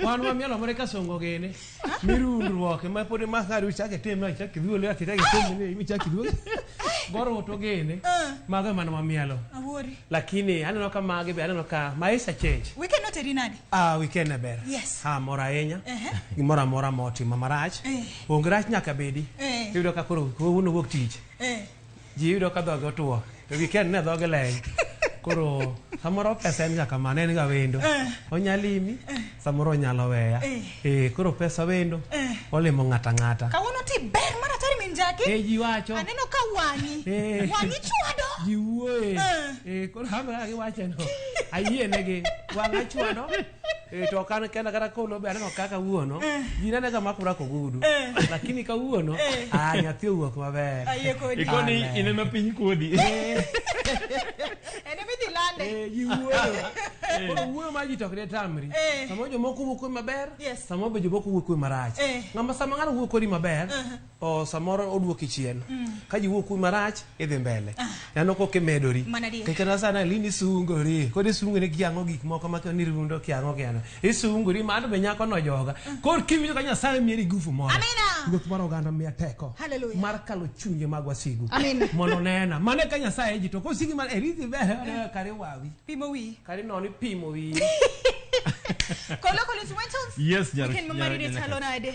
wan wamielo moro ka songo gene mirundruok ma pod ma ka riu chake tem na chake dhuol ya kitake tem ni mi chake dhuol goro to gene ah. maga man wamielo awori lakini aneno ka mage be aneno ka maisha change we cannot rinadi ah we can ber yes ha mora yenya gi mora mora moti mamarach eh. ongrach nyaka bedi eh. yudo ka koro wuno wok tich eh ji yudo ka dhoge otuo to gi ken ne dhoge leny koro samoro pesa en ga kamano en ga wendo eh. onyalimi eh. samoro onyalo weya eh. eh koro pesa wendo olimo ng'ata ng'ata kawuono ti ber mar atari min jaki eh ji wacho aneno ka wang'i wang'i chwado ji wuoye eh koro hamra gi wacho no ayie negi wang'a chwado Eh, to kan kenda kata kolo be aneno kaka wuono ji nene ga makura kogudu lakini ka wuono ah nyathi owuok maber Ayie kodi. Ikoni Amen. ineno piny kodhi. Ene midhi lande. Eh, ji wuoyo koro wuoyo ma ji to ok detamri Eh. sama jomoko wuok kodi maber Yes. sama be jomoko wuok kodi marach Eh. ng'ama sama ng'ano wuok kodi maber o samoro oduoki chien ka ji wuok kuwi marach idhi mbele nano kok imedori Mana adier. Kech kata sana lini isungori kod isungori kiang'o gik moko ma koni rundo kiang'o kiang'o isungori mano be nyako no joga kor kiwinjo ka nyasaye mieri gufu moro Amina. ruoth mar oganda miya teko Hallelujah. mar kalo chunje mag wasigu Amen. mondo nena mane ka nyasaye ji to kosigi mar erithi ber kare wawi Pimo wiyi. kare noni pimo wiyi Kolokolo Instrumentals. Yes, Nyar- Weekend ma Nyar- Marine Nyar- chalo nade?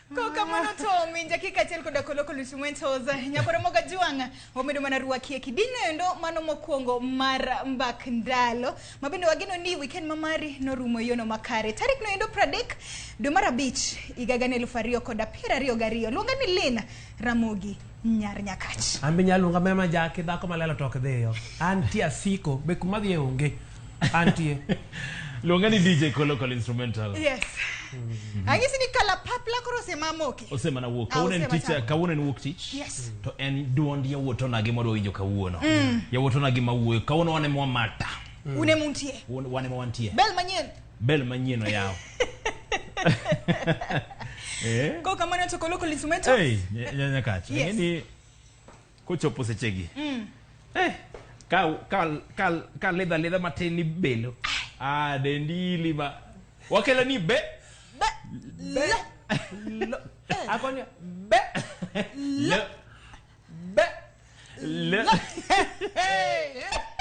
Kokamano to min jakika achiel koda koloko Lucy Mwentos nyako Ramogi Ajwang' omedo mana rwakie kidino endo mano mokwongo mar mbak ndalo ma bende wageno ni weekend ma mari norumo e yono makare tarik no endo 30 dwe mar abich higa gana elufu ariyo koda piero ariyo gariyo luonga ni Lynn Ramogi nyar nyakach an be nyaluonga mema jaki dhako malelo tok dhiyo antie asiko be kuma dhiye onge antie luonga ni dj kolokol instrumental yes mm. ang'isi ni kalapapla koro osemamoki osemana wuok ah, kawuono en tich kawuono en wuok tich yes to en duond yawuot onagi mwadwa winjo kawuono mm. yawuot onagi mawuoyo kawuono wane mwamata mm. une muntie wane mwantie bel manyien bel manyien oyaw eh? ko kamano to koloko lismeto hey, nyanya kacho yes. ni kochopo sechegi mm. eh, ka, ka, ka, ka ledha ledha matin ni belo ah, dendi lima wakela ni be be le, le. le. akonya be le, le. Le...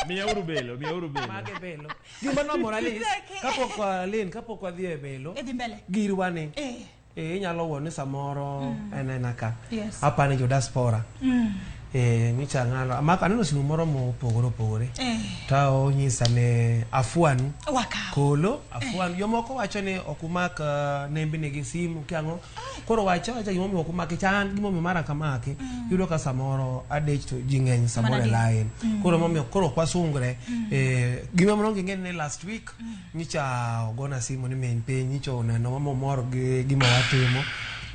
miya uru belo miya uru belo mage belo gima nomora lis kapok walin kapok wadhi e belo idhi mbele girwani eh eh inyalo wuo ni samoro mm. en en aka yes. apani jo diaspora mm. eh nyicha ngalo amaka aneno simu moro mopogore opogore eh. ta onyisa ne afuanu Waka. kolo afuanu eh. jomoko wacho ni okumak uh, nembi nigi simu kiango koro wacha wacha gimomiyo ok omake cha an gimomiyo mara kamake mm. yudo ka samoro adich to ji ng'eny samoro e line mm. koro momiyo koro ok wasungre mm. eh, gima moro onge ng'eni ni last week mm. nyicha ogona simu ni min piny nyicha oneno mama omor gi gima watimo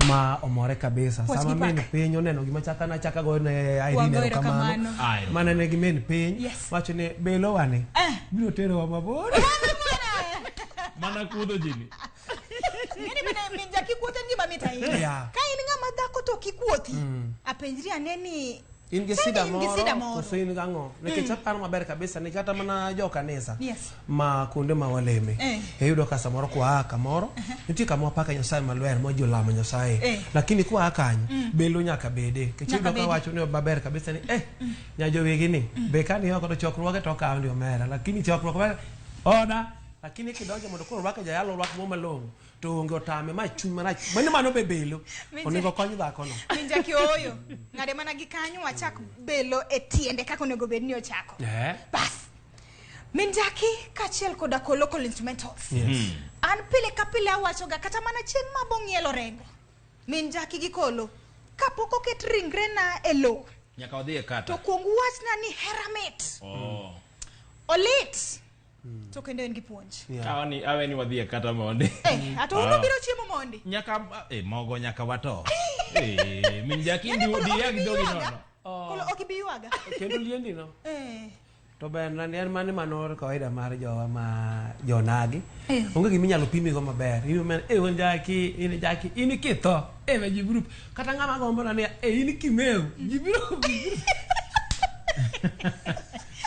ma omore kabisa What's sama min piny oneno gima chaka na chaka go ne Irene erokamano mana ne gi min piny yes. wacho ni belowa ni eh. biro terowa mabor mana kudho jini Ng'eni bende min ja kikuoth en gima mit ahinya. Yeah. Ka in ng'ama dhako to kikuothi, Mm. apenjri ane ni in gi Sani sida in gi moro sida moro. koso in gang'o nikech Mm. aparo maber kabisa ni kata mana jo kanisa Yes. ma kuonde ma waleme Eh. iyudo ka samoro kwaa kamoro nitie kama wapaka nyasaye malwer ma ji olamo nyasaye Eh. lakini kwaa kanyo Mm. belo nyaka bede nikech Nyaka iyudo ka bede. wacho ni maber kabisa ni eh nyajowegi ni be kani oko to chokruoge to okawo ndi omera lakini chokruok mar oda lakini kidonjo mondo koro orwake jayalo orwak mo malong'o to onge otame ma chuny marach mani mano be belo Minja- onego kony dhakono Minja kioyo. Ng'ade mana gi kanyo wachak belo e tiende kaka onego bed ni ochako. Eh, Bas. Minjaki kachiel koda ko local instrumentals. yes. An pile ka pile awachoga kata mana chieng' ma bong'ielo rengo. Minjaki gi kolo. Kapok oket ringre na e lowo. Nyaka wadhi e To kata. kuong wachna ni hera mit. Oh. Olit. Hmm. to kendo en gi puonj awani awe ni wadhi e kata mondi eh ato uno ah. biro chiemo mondi nyaka eh mogo nyaka wato eh min jaki ndi di yak dogi no oh. kolo ok bi yuaga kendo liendi no eh to ber na en mane manor kawaida mar jowa ma jonagi eh. onge gima inyalo pimi go maber in men e eh, won jaki in jaki in kitho e eh, me jibrup kata ngama gombo na ne e in kimeu jibrup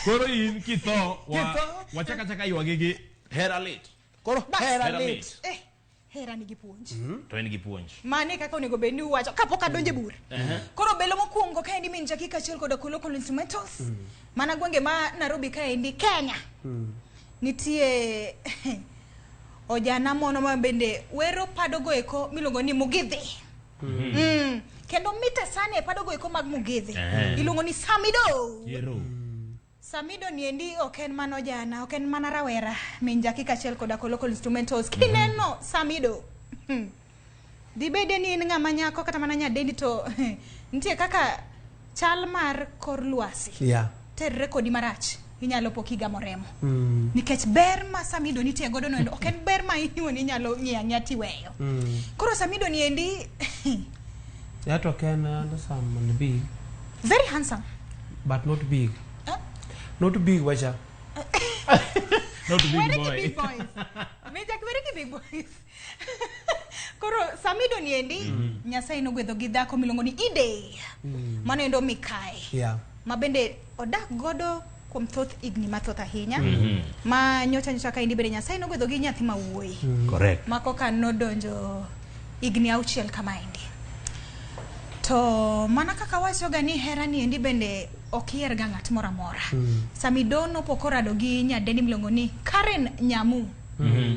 Koro in kitho wa wachaka chaka ywagi gi hera lit. Koro Bas. hera Hera lit. lit. Eh, hera nigi puonj. To en gi puonj. Mane kaka onego bed ni uwacho kapok adonje bura. Koro belo mokwongo ka endi min jakika achiel koda kolo kolo instrumentals. Mana gwenge ma Nairobi ka endi Kenya. Nitie ojana mono ma bende wero padogo eko miluongo ni Mugithi. Mm. kendo mita sana e padogo eko mag mugethe Eh. iluongo ni samido Yero. samido ni endi ok en mana ojana ok en mana rawera min jaki kachiel koda ko local instrumentals kineno samido hmm. dibede ni in ng'ama nyako kata mana nyadendi to nitie kaka chal mar kor lwasi yeah. terre kodi marach inyalo po kigamo remo mm. nikech ber ma samido nitie godo no ok en ber ma inyuon inyalo ng'iyo ang'iya tiweyo mm. koro samido ni endi that ok en handsome and big very handsome but not big huh? not big wacha not big boy. Big boys. May Jack very big boys. koro samido ni endi mm. nyasaye nogwedho gi dhako miluongo ni ide mm. mano endo mikae yeah. ma bende odak godo kuom thoth higni mathoth ahinya mm -hmm. ma nyocha nyocha ka endi bende nyasaye nogwedho gi nyathi ma wuoyi mm. correct ma koka nodonjo higni auchiel kama endi to mana kaka wachoga ni hera ni endi bende ok iyer ga ng'at moro amora mm. samido nopok orado gi nyadeni miluongo ni karen nyamu mm -hmm.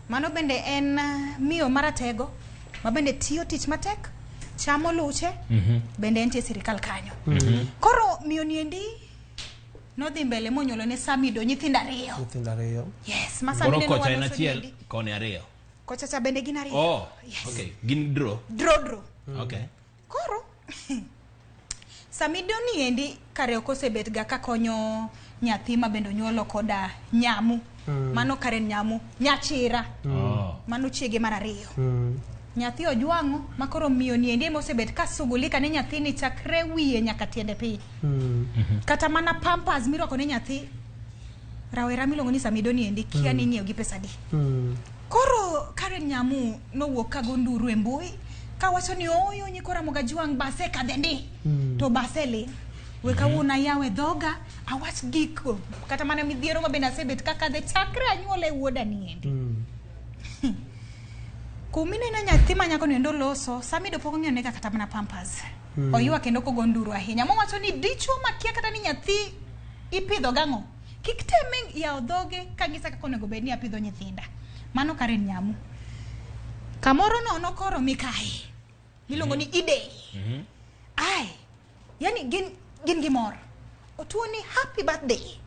Mano bende en uh, miyo maratego ma bende tiyo tich matek chamo luche mm -hmm. bende entie sirikal kanyo mm -hmm. koro miyo niendi nodhi mbele monyuolo ne samido nyithindo ariyo nyithindo ariyo yes ma samido kocha en achiel kone ariyo kocha cha bende gin ariyo oh yes. okay gin dro dro dro mm. okay Koro samido ni endi kare ok osebet ga kakonyo nyathi ma bende onyuolo koda nyamu mm. mano kare nyamu nyachira mm. oh. mano chiege mar ariyo mm. nyathi ojwang'o ma koro miyo ni endi emosebet ka sugulika ne nyathini chakre wiye nyaka tiende piny mm. kata mana pampas mirwako ne nyathi rawera miluongo ni Samido ni endi kia mm. ni inyiewo gi pesa di. Mm. Koro Karen Nyamu nowuok ka gonduru e mbui ka wacho ni oyo nyiko Ramoga Juang base kadhe ndi. Mm. To base li. We kawuono mm-hmm. ayawe dhoga awach gik kata mana midhiero ma bende asebet kaka dhe chakre anyuola e wuoda ni endi. Mm. Kumineno nyathi ma nyako ni endo loso, Samido pok ong'eyo nega kata mana pampers. Mm. Oywa kendo kogo nduru ahinya. Mowacho ni dichwo makia kata ni nyathi ipidho gang'o. Kik teme yawo dhoge ka ng'isa kaka onego bed ni apidho nyithinda. Mano Karen Nyamu. Kamoro nono koro mikae. Miluongo ni Ide. Mhm. Ai. Yani gin gin gi mor. Otuo ni happy birthday.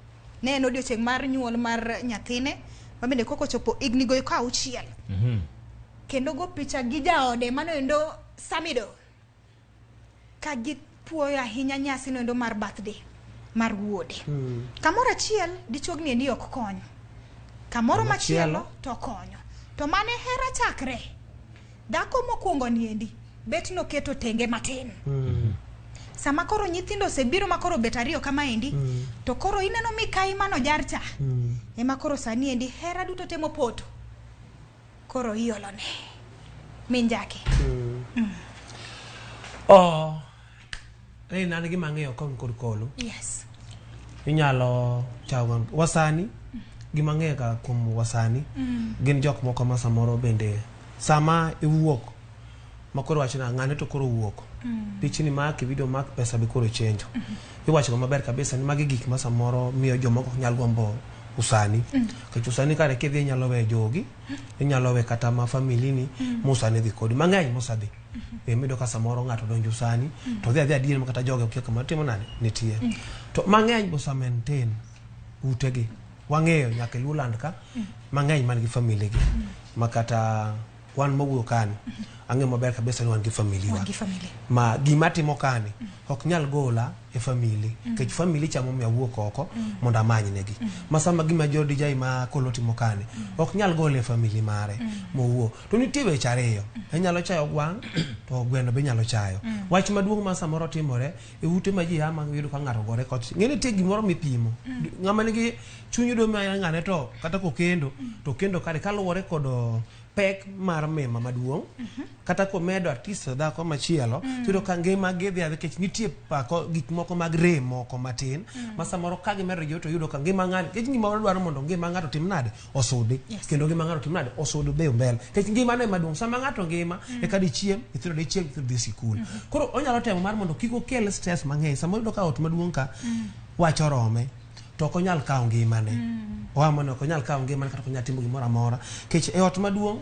Ne en odiochieng' mar nyuol mar nyathine. Ma bende koko chopo igni goyo ka auchiel. Mhm. Kendo go picha gi jaode mano endo Samido. ka gipuoyo ahinya nyasi noendo mar birthday mar wuode mm. kamoro achiel dichuogni endi ok kony kamoro machielo to konyo to mane hera chakre dhako mokwongo niendi bet noketo tenge matin mm. sama koro nyithindo osebiro ma koro bet ariyo kama endi mm. to koro ineno mikayi mano jarcha mm. ema koro sani endi hera duto temo poto koro iolone min jaki oh rei nan gima ang'eyo kon kod kolo yes inyalo chawa wasani gima ang'eyo ka kuom wasani gin jok moko ma samoro bende sama iwuok ma koro wacho na ng'ane to koro wuok mm. pichni mak video mak pesa be koro chenjo mm -hmm. iwacho go maber kabisa ni magi gik ma samoro miyo joma ok nyal gombo usani mm. kech usani kare kidhi inyalo we jogi mm. inyalo we kata ma famili ni mm. musani dhi kodi mang'eny mosadhi mm -hmm. e mido ka samoro ng'ato donjo usani mm. to dhi adhi adier ma kata joge okia kama timo nani nitie mm. to mang'eny bosa maintain utegi wang'eyo nyaka iluw land ka mm. mang'eny man gi famili gi mm. ma kata wan mawuoyo kani ang'e maber kabisa ni wan gi famili wa ma gima timo kani mm. ok nyal gola e famili mm. nikech mm. famili chamo mi awuok oko mm. mondo amany negi mm. ma sama gima jodi jai ma kolo timo kani mm. ok nyal gola e famili mare mm. mowuo to nitie weche ariyo mm. inyalo chayo gwang' to gweno be inyalo chayo mm. wach maduong' ma samoro timore e ute ma ji ama yudo ka ng'ato gore kot ng'e nitie gimoro mipimo mm. ng'ama nigi chuny yudo ma ng'ane to kata kokendo to kendo kare kaluwore kod pek mar mema maduong' mm-hmm. kata komedo artist dhako machielo mm. yudo ka ngima gidhi adhi kech nitie pako gik moko mag rem moko matin mm. ma samoro ka gimedo jo to yudo ka ngima ng'ani kech gimoro dwaro mondo ngima ng'ato tim nade osudi yes. kendo ngima ng'ato timnade osudi dhi mbele nikech ngima ne maduong' sama ng'ato ngima mm. eka dichiem nyithindo dichiem nyithindo dhi sikul mm. koro onyalo temo mar mondo kik okel stress mang'eny sama oyudo ka ot maduong' ka mm. wach orome to ok onyal kawo ngimane mm. oa mono ok onyal kawo ngimane kata ok onyal timo gimoro amora nikech e ot maduong'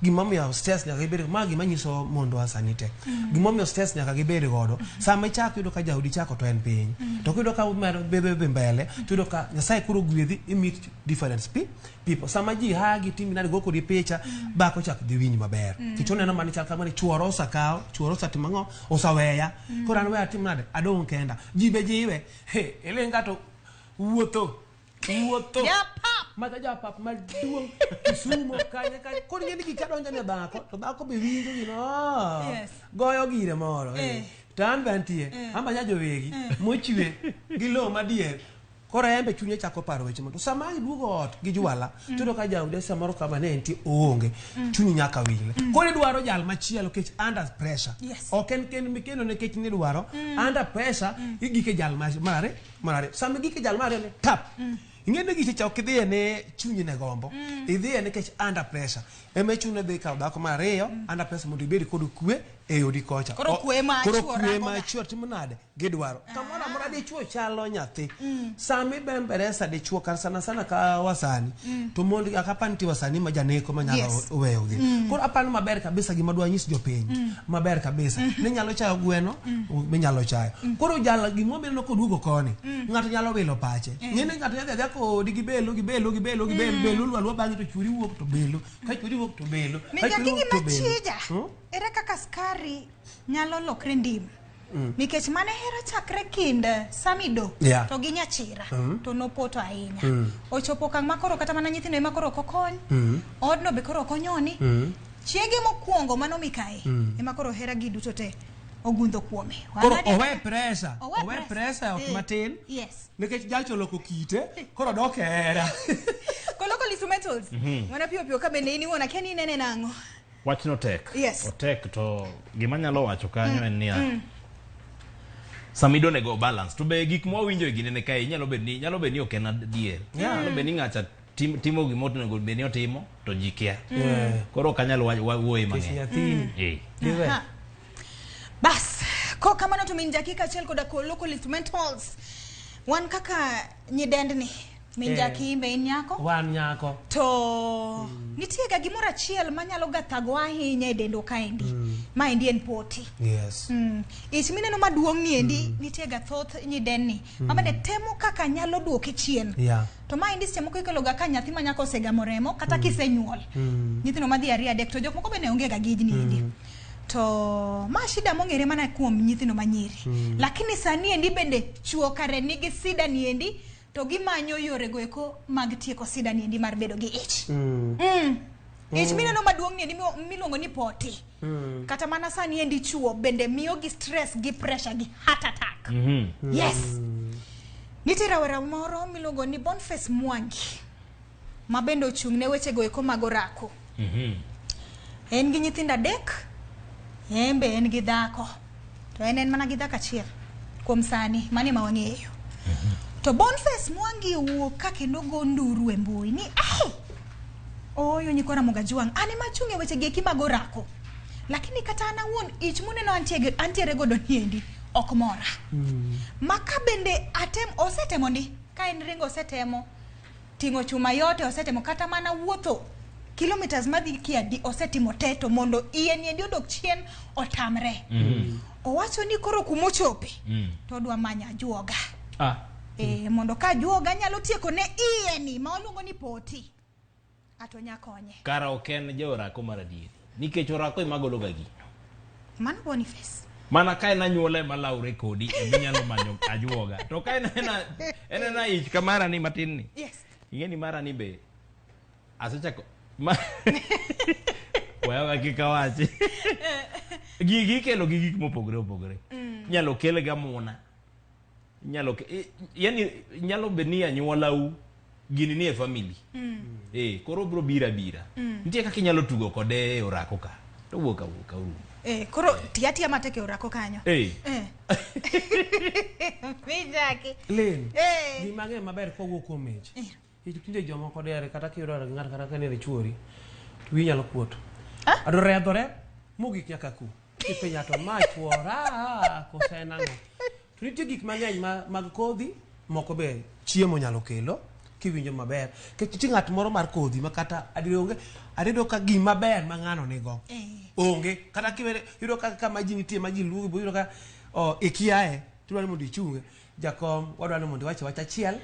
gimomiyo stress nyaka ibed ma gima nyiso mondwa sani te gimomiyo stress nyaka gibed godo sama ichako yudo ka jaodi chako to en piny to kiyudo ka umedo bedo dhi mbele tuyudo ka nyasaye koro gwedhi i meet different spe- people sama ji hagi timi nadi go kodi picha bako chak dhi winj maber kech oneno mani chal kamani chuoro osakawo chuoro osatimo ang'o osaweya koro an we atim nade adong' kenda ji be jiwe he ilinga to wuotho wuotho Japap. mata japap maduong' kisumo kanye kanye koro ing'e ni gik ka donjo ne dhako to dhako be winjo gino "Ah, Yes. goyo gire moro eh. Eh. to an be antie an be anyajo wegi mochwe gi lowo madier koro en be chunye chako paro weche mondo sama iduogo ot gi jwala tudo ka jaode samoro kama ne entie oonge chunyi nyaka wile koro idwaro jal machielo kech under pressure Yes. ok en ken mikeno ne kech nidwaro under pressure igike jal ma- mare mar ariyo sama gike jal mar ariyo ni tap mm. ing'eni giche cha ok idhiye ne chunyi ne gombo mm. idhiye nikech under pressure ema ichune dhi kawo dhako mar ariyo mm. under pressure mondo ibed kod kwe e odi kocha koro kwe ma koro kwe ma chuo timo nade gidwaro ah. kamoro amora dichuo chalo nyathi mm. sami bembere sa dichuo kar sana sana ka wasani mm. to mondo akapan ti wasani ma janeko ma nyalo yes. weyogi mm. koro apano maber kabisa gima dwa nyis jopiny mm. maber kabisa mm-hmm. ni nyalo chayo gweno mm. minyalo chayo mm. koro jala gima obiro no koduogo koni mm. ng'ato nyalo wilo pache eh. ng'e ni ng'ato yadhi adhia kodi gi belo gi belo gi belo gi belo belo lwa lwa bang'e to churi wuok to belo ka churi wuok to belo ka churi wuok to belo hmm? ere kaka skari nyalo lokre ndim Mm. nikech mane hera chakre kind eh, samido yeah. to gi nyachira mm. to nopoto ahinya mm. ochopo kang' ma koro kata mana nyithindo ema koro okokony mm. odno be koro okonyoni mm. chiege mokwongo mano mikae mm. ema koro hera gi duto te ogundho kuome koro owe presa owe presa ok eh, matin yes nikech jalch oloko kite koro dok hera koloko lisu metals mm -hmm. mana piyo piyo ka bende in iwona kia ni inene nang'o Wachno tek. Yes. Otek to gima nyalo wacho kanyo en niya. Sama idone go balance to be gik ma wawinjo e gine ne kae nyalo bed ni nyalo bed ni ok en adier. Nyalo bed ni ng'acha tim- timo gima onego bed ni otimo to ji kia. Yeah. Koro ok anyal wa- wa- wuoye Kech mang'eny. nyathini. Eh. Diwe. Ha. Bas, ko kamano to min dakika achiel koda koloko lith mentals. Wan kaka nyidendni min Eh. jakimbe in nyako wan nyako to nitie ga gimoro achiel manyalo ga thagowa ahinya e dendwa kaendi ma endi en poti yes Mm. ich mineno maduong' ni endi nitie ga thoth nyidenni mabende temo kaka nyalo duoke chien yeah to ma endi seche moko ikeloga ka nyathi ma nyako osegamo remo kata kisenyuol nyithindo madhi ariyo adek to jok moko bende onge ga gijni endi to ma shida mong'ere mana kuom nyithindo manyiri mm. lakini sani endi bende chuo kare nigi sida ni endi to gimanyo yore go eko mag tieko sida ni endi mar bedo gi ich mm. mm. ich mm. mineno maduong' ni endi miluongo ni poti mm. kata mana sani endi chuo bende miyo gi stress gi pressure gi heart attack mm -hmm. yes mm. nitie rawera moro miluongo ni bonface mwangi ma bende ochung' ne weche go eko mag orako. Mm -hmm. En gi nyithindo adek, en be en gi dhako. To en en mana gi dhako achiel kuom sani, mani ma wang'eyo. Mm -hmm. To Boniface Mwangi owuok ka kendo go nduru e mbui ni ah! Oyo nyikora Mogajwang, an ema achung' e weche gi eki mag orako. Lakini kata an awuon ich muneno antiere, antiere godo niendi ok mora. Mm. Maka bende atem osetemo ndi ka en ringo osetemo ting'o chuma yote osetimo kata mana wuotho kilometers madhi kiadi osetimo te to mondo iye niendi odok chien otamre mm. owacho ni koro kumochope mm. to odwa manya juoga ah. e, mondo ka juoga nyalo tieko ne iye ni ma oluongo ni poti ato nya konye kara ok en ja orako mar adieri nikech orako ema gologa gi mano boniface mana ka en anyuola ema lawre kodi ema inyalo manyo ajuoga to ka en ena en ena ich ka mara ni matin ni yes ing'e ni mara ni be asechako ma waya wakika wachi gigi ikelo gi gik mopogore opogore inyalo kel ga muna inyalo ke- i- yani nyalo bed ni anyuolau gini nie family eh koro bro bira bira nitie kaka inyalo tugo kode e orako ka to wuok awuok auru Eh, koro tiya tiya matek e orako kanyo eh Eh. Mijaki. len Eh. gima ng'e maber kowuok kuom ich Nikech tinde jomoko dere kata kiyudore gi ng'ato kata ka nere chuori to wiyi nyalo kuot. Adore adore mogik nyaka ku. Kipenjo to ma chuora kose en ang'o? To nitie gik mang'eny ma, mag kodhi moko be chiemo nyalo kelo kiwinjo maber. Nikech nitie ng'at moro mar kodhi ma kata adier onge adedo ka gima ber ma ng'ano nigo. Onge. Kata kiwere yudo ka kama ji nitie ma ji luwo biro ka o, ikiaye tidwaro ni mondo ichunge. Jakom, wadwani mondo iwache wach achiel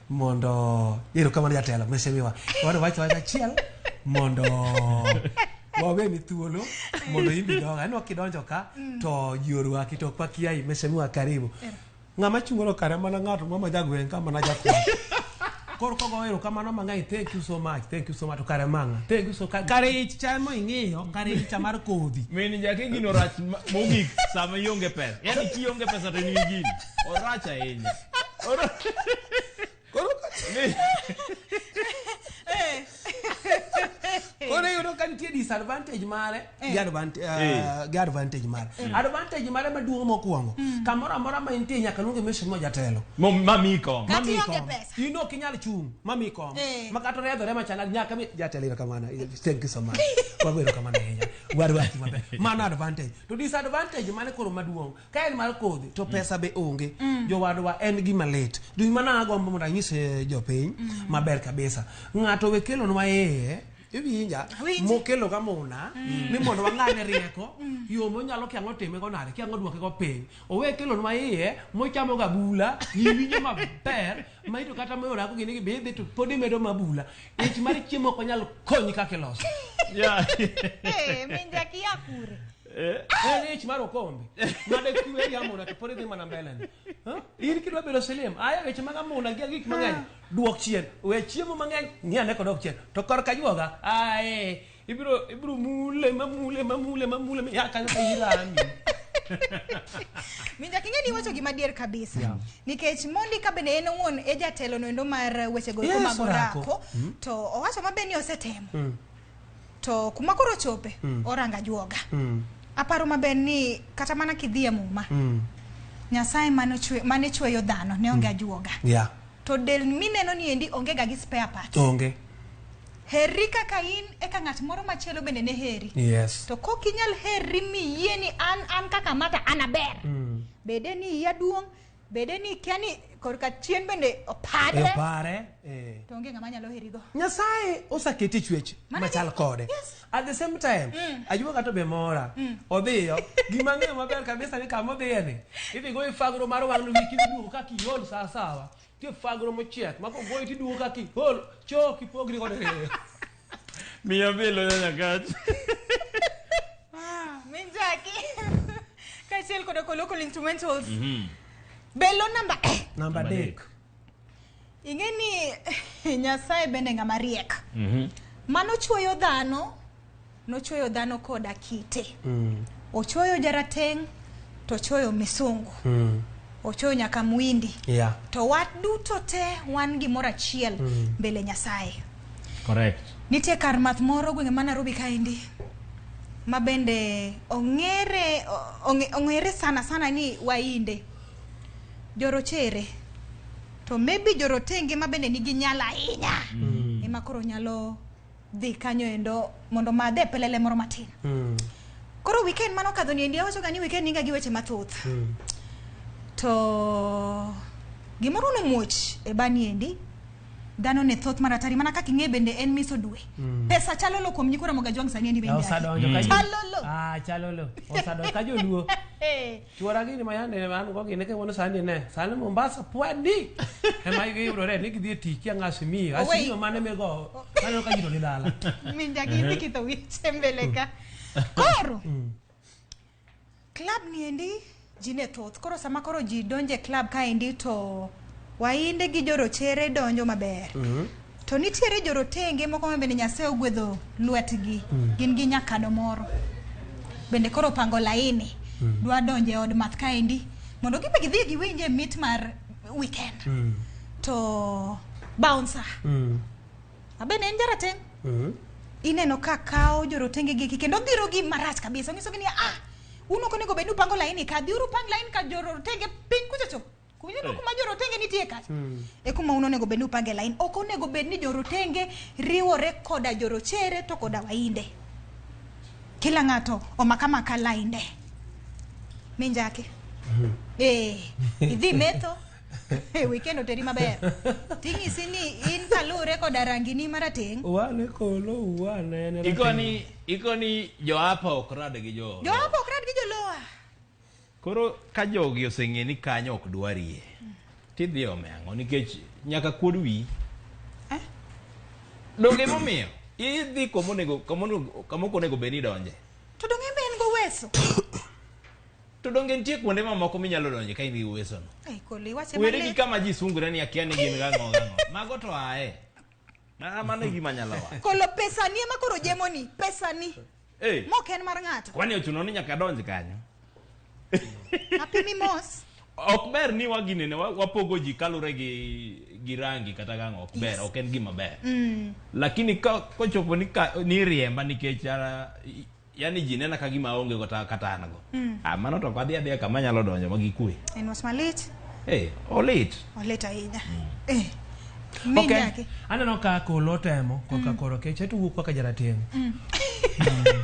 mondo ero kamano jatelo mesemiwa wadwani iwache wach achiel mondo waweni thuolo mondo imbi donga anwa kidonjo ka to ji orwaki to kwa kiai mesemiwa karibu ng'ama chungolo kare mana ng'ato mama jagweng' ka mana jakom Koro kogo ero kamano mang'eny thank you so much thank you so much to kare mang'a thank you so ka- kare ich chamo ing'iyo kare ich chamar kodhi Mini jake gino rach ma- mogik sama ionge pesa. Yaani ki ionge pesa to in gi gini. Orach ahinya. Oro- Koro Ni- koro iyudo ka nitie disadvantage mare eh. gi advantage eh. uh, mare eh. advantage mare maduong' mokwongo hmm. kamoro amora ma intie nyaka luonge mission mo jatelo mamiyi kong in ok inyal chung' mamiyi kong ma kata oriadhore machana nyaka mi jatelo iro kamano thank you so much wagwero kamano ahinya warwachi maber mano advantage to disadvantage mane koro maduong' Ka en mar kodhi to pesa be onge. Jowadwa en gima lit. Dhi mana agombo mondo anyis eh, jopiny maber kabisa. Ng'ato we kelonwa ee iwinja Awinji. mokelo ka muna ni mondo wang'ane rieko yo monyalo kia ang'o time go nade kia ang'o duoke go piny owe kelonwa iye mochamo ga bula iwinjo maber ma ito kata moyo rako gini gibidhi to pod imedo ma bula ich mar chiemo ok onyal konyi kaka iloso Yeah. Eh, min Jackie ya kure. Eh. En ich mar okombe. Made kiwe ya mona to pore dhi mana mbele ni. Ha? In kidwa bedo silim, aya weche mag amuna gi gik mang'eny. Duok chien, we chiemo mang'eny, ni ane kodok chien. To kor ka juoga, ae, ibiro ibiro mule mamule mamule mamule mi ya kanyo ka irami. Minja kinge ni wacho gima dier kabisa. Yeah. Nikech Mondi ka bende en owuon e jatelo no endo mar weche go Yes, mag orako. orako. To owacho mabe ni osetemo. to kuma koro ochope mm. oranga juoga mm. aparo maber ni kata mana kidhi e muma mm. nyasaye mane chweyo dhano ne onge mm. ajuoga yeah. to del mineno ni endi onge ga gi spare parts onge herri kaka in eka ng'at moro machielo bende ne heri yes. to kok inyal herri miyie ni an an kaka mata an aber mm. bede ni iya duong' Bede ni ikia ni korka chien bende opadre. E opare. Eh. To onge ng'ama nyalo herigo. Nyasaye osaketi e chwech machal kode. Yes. At the same time, mm. ajuwa kato be mora. Mm. Odhiyo, gima ng'eyo maber kabisa ni kama odhiye ni. Idhi go ifagro mar wang' luwi kidhi duogo ka kiol saa sawa. Ti ifagro mochiek. Mako goyi ti duogo ka kiol. Choo kipogri kode. Miyo bilo nyanya kach. Min Jackie. Kaachiel koda ko local instrumentals. Belo namba eh. Namba adek. Ing'e ni Nyasaye bende ng'ama riek. Mano chuoyo dhano, nochuoyo dhano koda kite. Ochuoyo jarateng' to ochuoyo misungu. Mm. Ochuoyo nyaka mwindi. Yeah. To wat duto te wan gimoro achiel mbele Nyasaye. Correct. Nitie kar math moro gwenge ma Nairobi kaendi ma bende ong'ere ong'e- ong'ere sana sana ni wainde jorochere to maybe jorotenge ma bende nigi nyalo ahinya ema koro nyalo dhi kanyo endo mondo madhe pelele moro matin Mm. koro weekend mano kadho ni endi awachoga ni weekend niga gi weche mathoth Mm. to gimoro nomuoch e bani endi Dhano ne thoth mar atari mana kaka ing'e bende en miso dwe. Mm. Pesa chalo lo kuom nyikora moga jwang sani endi bende. Osadonjo mm. ka chalo lo. Ah chalo lo. Osadonjo ka joluo. Eh. Chuora gini ma yande an go gine ke wono sani ne. Sani Mombasa pwadi. E ma igi yuro re ni gidhi e tich ya ngasi mi. Oh, Asi yo mane me go. Kano ka jiro ni dala. Minja gi dikito wiche mbele ka. Koro. Mm. Club ni endi ji ne thoth koro sama koro ji donjo e club ka endi to wainde gi jorochere donjo maber mm -hmm. to nitiere jorotenge moko ma bende nyasaye ogwedho lwetgi mm -hmm. gin gi nyakado moro bende koro pango laini mm -hmm. dwa donjo e od math ka endi mondo gibe gidhi giwinje mit mar weekend mm -hmm. to bouncer mm -hmm. Abe ne en jarateng'. Mhm. Ineno ka kawo jorotenge gi kendo dhiro gi marach kabisa. Onyiso gi ni ah un ok onego bed ni upango laini ka dhiuru pang laini ka jorotenge piny kucho cho. Kunyeno Eh. kuma jorotenge nitie ka. Mm. E kuma un onego bed ni upange laini. Ok onego bed ni jorotenge riwore koda jorochere to koda wainde. Kila ng'ato omaka maka lainde. Minjake. Eh, idhi metho. e weekend oteri maber ting'isi ni in kaluwre koda rangini marateng' wane kolo wane en rateng'. ikoni ikoni joapa ok rad gi jo joapa ok rad gi joloa koro ka jogi oseng'e ni kanyo ok dwarie tidhi ome ang'o nikech nyaka kuod wi Eh? donge momiyo idhi komonego kamokonego bed ni idonje to donge be en goweso To donge nitie kuonde mamoko minyalo donje ka in gi uwesono? Ai, Kolo, iwache Were gi malit. kama ji sungre ni akia ni gin gang'o gang'o. Mago to ae. Ma- Mano e gima nyalo wacho. Kolo, pesani ema koro jemoni. Pesani. Eh, Mok en mar ng'ato. kwani ochuno ni nyaka donj kanyo? Apimi mos. Ok ber ni waginene wa- wapogo ji kalure gi gi rangi kata gang'o ok ber, ok en gima ber. Lakini ka kochopo ni ka- ni riemba nikech ah, i- yani ji nena ka gima aonge go kata an go mm. ah, mano to ok adhi adhiya kama nyalo donjo ma gikwe en wach malit hey, eh, olit olit ahinya mm. eh. Okay. Aneno ka kolo temo koka mm. koro keche to wuok kaka jarateng'. Mm. mm.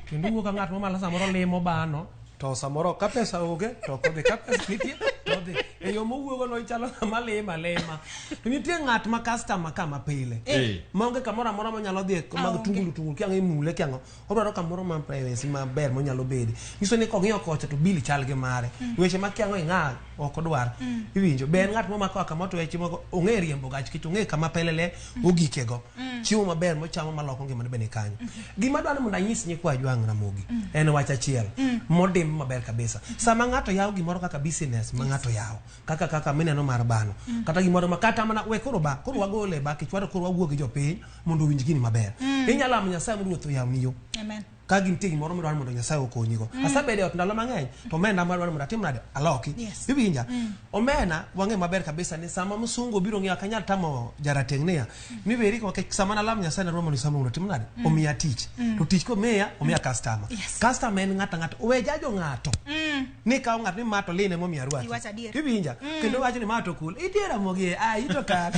Kendo wuok ka ng'at mamalo samoro limo bano. to samoro ka pesa onge to ok odhi ka pesa nitie to odhi e yo mowuogo no ichalo ng'ama lima lima to nitie ng'at ma customer kama pile Eh. maonge kamoro amora monyalo dhi mag Aonge. tungulu tungulu kiang' imule kiang' odwaro kamoro ma privacy maber monyalo bedi nyiso ni kong'iyo kocha to bili chal gi mare weche ma kiang' ing'a ok odwar mm. iwinjo be en ng'at momako kama otuwe chiemo go ong'e riembo gach kech ong'e kama pelele mm. ogike go mm. chiemo maber mochamo maloko ngima ne bene kanyo gima dwaro mondo anyis nyikwa jwang' ramogi en wach achiel modim maber kabisa sama ng'ato yawo gimoro kaka business ma ng'ato yawo kaka kaka mineno mar bano kata gimoro ma kata mana we koro ba koro wagole ba kichwaro koro wawuo gi jopiny mondo owinj gini maber inyalo amo nyasaye mondo ruoth oyawni yo amen ka gin nitie gimoro midwaro mondo nyasaye okonyigo mm. asebedo e ot ndalo mang'eny to omenda madwaro mondo atim nade aloki yes. iwinja mm. omena wang'e maber kabisa ni sama msungu obiro ng'eyo ok anyal tamo jarateng' niya mm. ni weri nikech sama nalam nyasaye narwa mondo isamruno otim nade mm. omiya tich mm. to tich komiya omiya mm. kastama yes. kastama en ng'ato ang'ato owe jajo ng'ato mm. ni kawo ng'ato ni ma to line momiya rwaki iwinja mm. kendo wacho ni ma to kul idiera mogie a ah, ito kale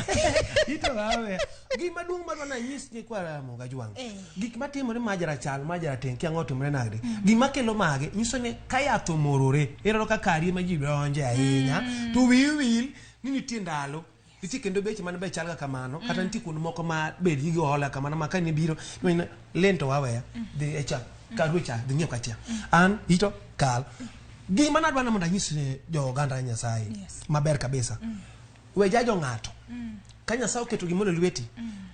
ito wawe gima duong' madwa nanyis ni kwa moga jwang' eh. gik matimore ma jarachal ma jarateng' kia ng'otimre nagde mm. gima kelo mage nyiso ni ka yath omorore ineno ka karie ma ji donje ahinya mm. to wiyi wil ni nitie ndalo nitie kendo beche man be chalga kamano kata mm. nitie kuonde moko ma bed gi hola kamano ma kane biro lento waweya dhi e cha karu cha dhi nyiew kachia an ito kal gima nadwa ni mondo anyis ne jo oganda nyasaye maber kabisa we jajo ng'ato ka nyasaye oketo gimoro e lweti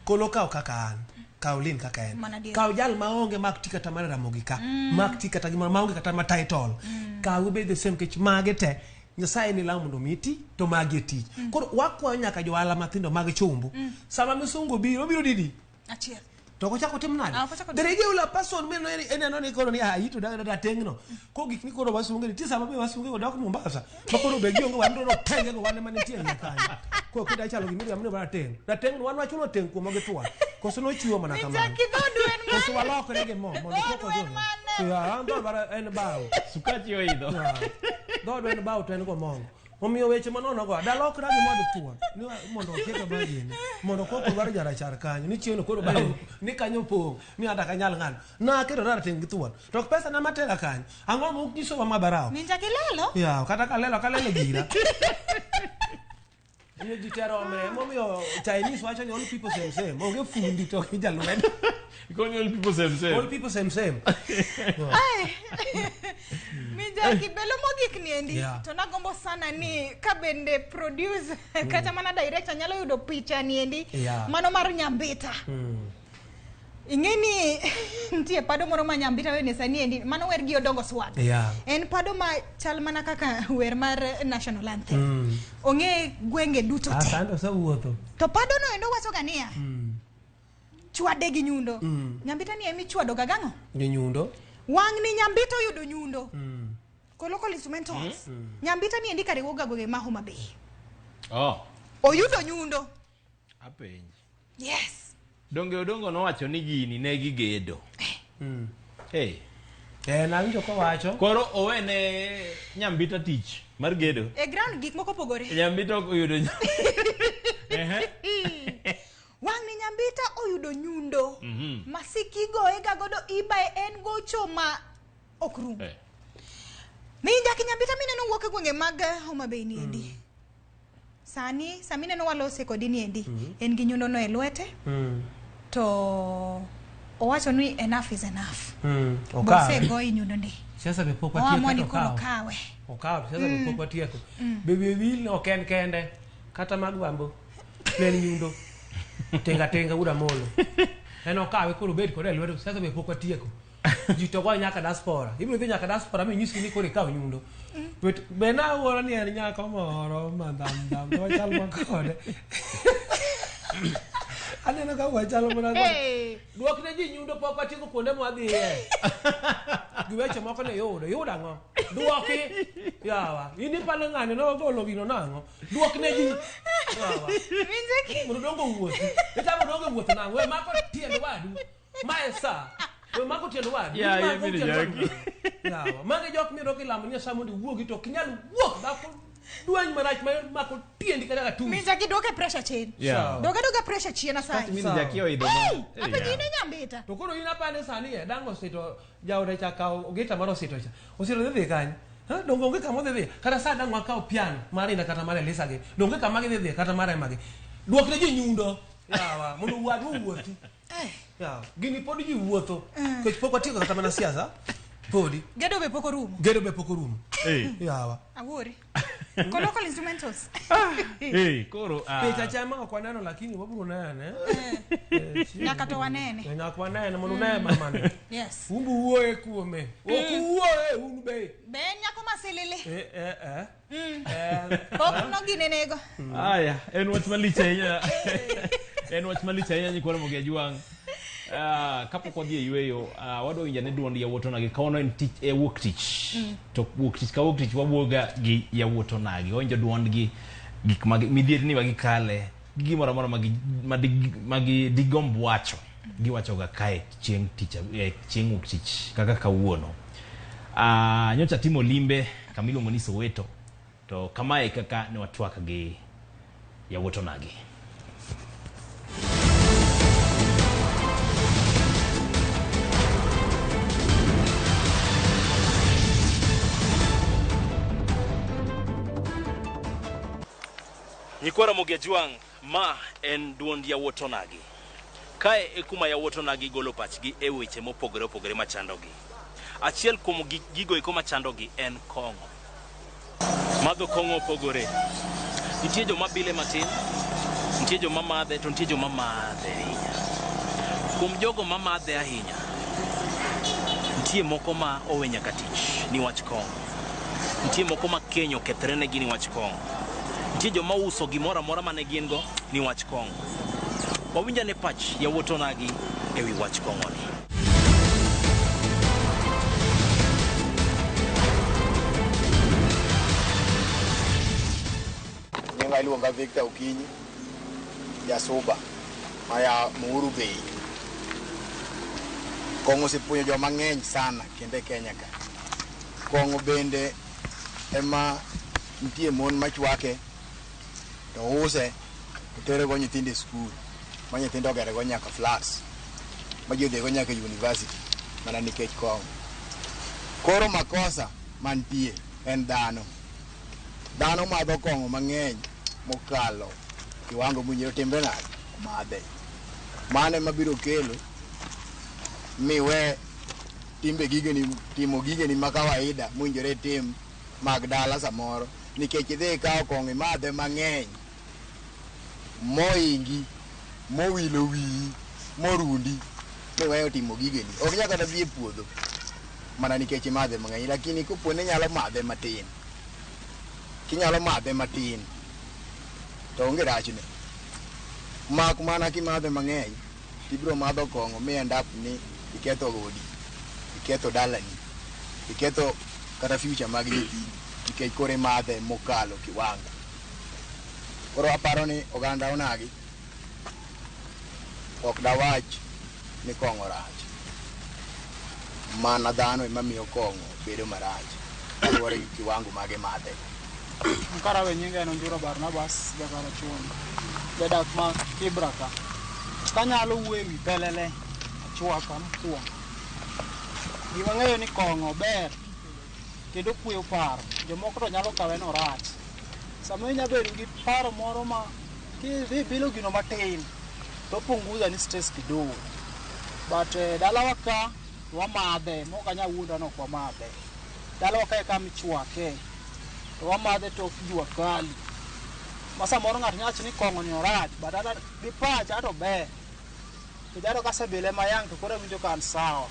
kolo kaw kaka an kaw lin kaka en Mana adier. kaw jal ma onge mak ti kata mar ramogi ka mak ti kata gimoro ma onge kata ma title kaw ibed the same kech mage te nyasaye ni law mondo mi ti to magi e tich koro wakwayo nyaka johala matindo mag chumbu sama misungo biro obiro didi achiel to kochak otim nade Ah, kochak otim- there is a person men no en aneno ni koro ni ah ito da da tengno ko gik ni koro wasunge ni tisa mabe wasunge go dok Mombasa to koro be gionge wan no tenge go wan mane tie kanyo ko kida chalo gimiri amne bana teng da teng wan wachuno teng kuom gi twa koso no chiwo mana kamano Nichaki dhodu en mane? koso walokre gi mo mondo Dhodu koko en jo mane? ya ando bara en bawo Sukachi oidho. dhodo en bawo to en go mongo Omiyo weche manono go adala ok ragi mondo thuon ni wa- mondo okete bagini mondo koko dwaro jarachar kanyo ni chieng' koro bao ni kanyo pong' ni ada kanyal ng'ano naketo rateng' gi thuon to ok pesa na matera kanyo ang'o ma ok nyisowa ma barawo Ninja kilelo. yaw kata kalelo kalelo gira Omiyo ji tero omre momiyo Chinese wacho ni all people same same onge fundi to gi jalwedo Koni old people same same. Old people same same. Mijaki belo mogik ni endi yeah. to nagombo sana ni ka bende producer mm. kata mana director nyalo yudo picha ni endi yeah. mano mar nyambita. Mm. Ing'e ni nitie pado moro ma nyambita wene sani endi mano wer gi odongo swag. Yeah. En pado ma chal mana kaka wer mar national anthem. Mm. Ong'e gwenge duto te. Asante osewuotho. To pado no endo wacho ga niya. Mm. chwade gi nyundo mm. nyambita ni emi chwado ga gang'o gi nyundo wang ni nyambita oyudo nyundo mm. ko local instrumentals mm. Mm-hmm. mm. nyambita ni endi kare woga goge maho mabe oh oyudo nyundo apenji yes donge odongo nowacho ni gini ne gigedo eh. mm. hey eh nawinjo kowacho koro owene nyambita tich mar gedo e ground gik moko pogore nyambita oyudo Wang'ni nyambita oyudo nyundo. Mhm. Masiki igoye ga godo ibaye en gocho ma ok rum. Eh. Minja kinyambita mineno wuok e gwenge mag eh, Homa Bay ni endi. Sani sami neno walose kodi ni endi. En gi nyundo no e lwete Mm. to owacho ni enough is enough. Mm. Okawe. Bose goyi nyundo ndi. Siasa be pok Oamua watieko ni to koro okawe. kawe. Okawe siasa be pok watieko. Baby Will ok en kende kata mag bambo. ne en nyundo tenga tenga uda molo en okawe koro bed kode e lwedo sasa be pok watieko ji to goyo nyaka diaspora ibiro dhi nyaka diaspora mi nyisi ni koro ikaw nyundo But be na wuoro ni en nyako moro ma dham dham to wachal ma kode aneno ka wachalo mana kode Hey. dwok ne ji nyundo pok watieko kuonde mwadhiye gi weche moko ne yudo yudo ang'o dwoki yawa in ipalo ng'ane nogolo gino nang'o duok ne ji mondo dongo wuoth itamo dongo wuoth na we mako tiend wadu ma e sa we mako tiend wadu Yeah, Mako yeah, mini tiend wadu. jaki. Yawa, magi jok miyudo kilamo ni nyasaye mondo iwuogi to ok inyal wuok dhako dwany marach ma mako tiendi kata katum Min jaki duoke pressure chien. Yeah. Doga doga pressure chien asai. Mini jaki oidho ma- Hey, apa Yeah. nyine nyambita. to koro in apane sani e dango sito Jaoda cha kawo gita mar osito cha. Osito dhi dhi kanye? Ha, donge onge kama odhi dhiye? Kata sa dang' wakaw piano mar Inda kata mar Elisa gi, donge kama gidhi dhiye kata mar Emma gi. Dwok ne ji nyundo. Yawa, mondo wadu owuothi. Yawa, gini pod ji wuotho. Kech pok watieko kata mana siasa. Podi. Gedo be pok orumo. Gedo be pok orumo. Yawa. Awuori. Colloquial instrumentals. Eh, koro ah, Picha chama ok waneno lakini wabiro nene. Eh, chieng' Nyaka to wanene. Eh, Nyaka wanene mondo uneye mamane. Yes. Umbu wuoye kuome. Ok uwuoye un be. Be en nyako masilili. Eh, eh, eh. Eh, Pok noginenego. haya en wach malich ahinya en wach malich ahinya nyikwara mogi ajwang' Ah, kapok wadhi e yueyo ah, wadwa winja ne duond yawuot onagi kawono en tich e wuok tich mm. to wuok tich ka wuok tich wawuoga gi yawuot onagi wawinjo duondgi gik magi midhierni ma gikale gi gimoro amora magi madi- magi digomb wacho giwachoga kae chieng' tich ab- eh, chieng' wuok tich kaka kawuono Ah, nyocha timo limbe kamiluongo ni soweto To kamae e kaka ne watwak gi yawuot onagi. Nyikwa Ramogi Ajwang' Ma en dwond yawuot onagi. Kae e kuma yawuot onagi golo pachgi e weche mopogore opogore machandogi. Achiel kuom gik gigo eko machandogi en kong'o. Madho kong'o opogore. Nitie joma bile matin, nitie joma madhe to nitie joma madhe ahinya. Kuom jogo mamadhe ahinya, nitie moko ma owe nyaka tich niwach kong'o. Nitie moko ma keny okethre negi niwach kong'o. Nitie joma uso gimoro amora mane gin go niwach kong'o. Wawinj ane pach yawuot onagi e wi wach kong'oni. Nyinga iluonga Victor Okinyi, jasuba maya Muuru Bei. Kong'o osepuonjo joma ng'eny sana kendo e Kenya ka. Kong'o bende ema nitie mon machwake to use to terego nyithindo e skul ma nyithindo ogerego nyaka flats ma ji odhigo nyaka e university mana nikech kong'o. Koro makosa mantie en dhano. Dhano madho kong'o mang'eny mokalo kiwango mowinjore otimre nade? Omadhe. Mano ema biro kelo miwe timbe gigeni timo gigeni ma kawaida mowinjore itim mag dala samoro nikech idhi ikawo kong'o imadhe mang'eny moingi mowilo wiyi morundi miweyo timo gigeni ok nyaka kata dhi e puodho mana nikech imadhe mang'eny lakini kopo ni nyalo madhe matin kinyalo madhe matin to onge rachne mak mana kimadhe mang'eny to ibiro madho kong'o mi end up ni iketho odi, iketho dalani, iketho kata future mag nyithindi nikech koro imadhe mokalo kiwango. Koro aparo ni oganda onagi ok dawach ni kong'o rach, mana dhano ema miyo kong'o bedo marach kaluwore gi kiwango mage madhe. Karawe nyinga en Onjuro Barnabas Jakara Chuonyi, jadak ma Kibra ka. Kanyalo wuoyo ewi pelele chwaka mokwongo. Gima ng'eyo ni kong'o ber kendo kueyo paro. Jomoko to nyalo kawe ni orach. Sama inya bedo gi paro moro ma kidhi bilo gino matin to punguza ni stress kidogo. But eh, dalawa ka wamadhe, mok anya wuonda ni ok wamadhe. Taloke eka michwake, to wamadhe tok jua kali. Ma samoro ng'ato nyalo wacho ni kong'o ni orach, but ata gi pacha to ber. To jalo kasebile ma yang' to koro awinjo ka an sawa.